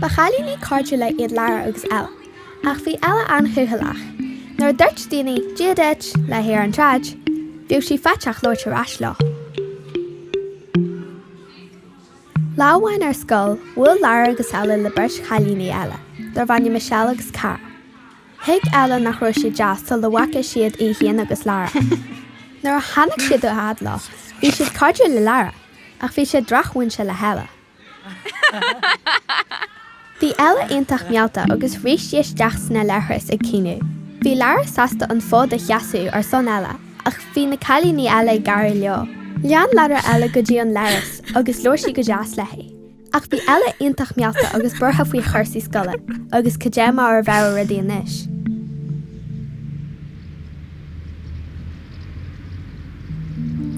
Ba chailíní cairdiúla iad Lara agus Ella, ach bhí Ella an-chúthaileach. Nuair a dúirt daoine 'Dia duit' léi ar an tsráid, bhíodh sí faiteach labhairt ar ais leo. Lá amháin ar scoil, bhuail Lara agus Ella le beirt chailíní eile, darbh ainm Michelle agus Cara. Thuig Ella nach raibh siad deas sula bhfaca siad í féin agus Lara. Nuair a tháinig siad a fhad leo, bhí siad cairdiúil le Lara, ach bhí siad drochmhúinte le hElla. Bhí Ella iontach meallta agus rith sí isteach sna leithris ag caoineadh. Bhí Lara sásta an fód a sheasamh ar son Ella, ach bhí na cailíní eile ag gáire leo. Lean Lara Ella go dtí an leithreas agus labhair sí go deas léi. Ach bhí Ella iontach meallta agus buartha faoi chúrsaí scoile agus cad é mar a bheadh rudaí anois.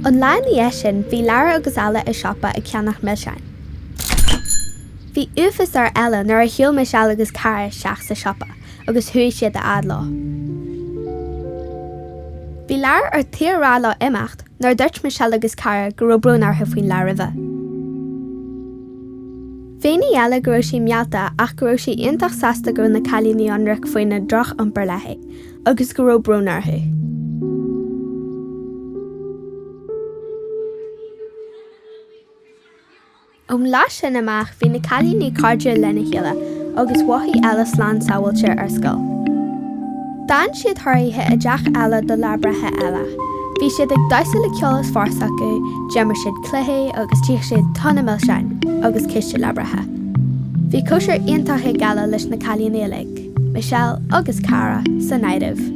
An lá ina dhiaidh sin, bhí Lara agus Ella i siopa ag ceannach milseáin. Bhí uafás ar Ella nuair a shiúil Michelle agus Cara isteach sa siopa. agus chuaigh siad a fhad leo. Bhí Lara ar tí a rá leo imeacht nuair a dúirt Michelle agus Cara go raibh brón orthu faoin lá roimhe. Mhínigh Ella go raibh sí meallta ach go raibh sí iontach sásta go raibh na cailíní ionraic faoina ndrochiompar léi agus go raibh brón orthu. Ón lá sin amach bhí na cailíní cairdiúil lena chéile agus mhothaigh Ella slán sábháilte ar scoil. D'fhan siad thar oíche i dteach Ella do lá breithe Ella. Bhí siad ag damhsa le ceol is fearr acu, d'imir siad cluichí agus d'ith siad tonna milseáin agus císte lá breithe. Bhí cóisir iontach ag Ella leis na cailíní uilig, Michelle agus Cara san áireamh.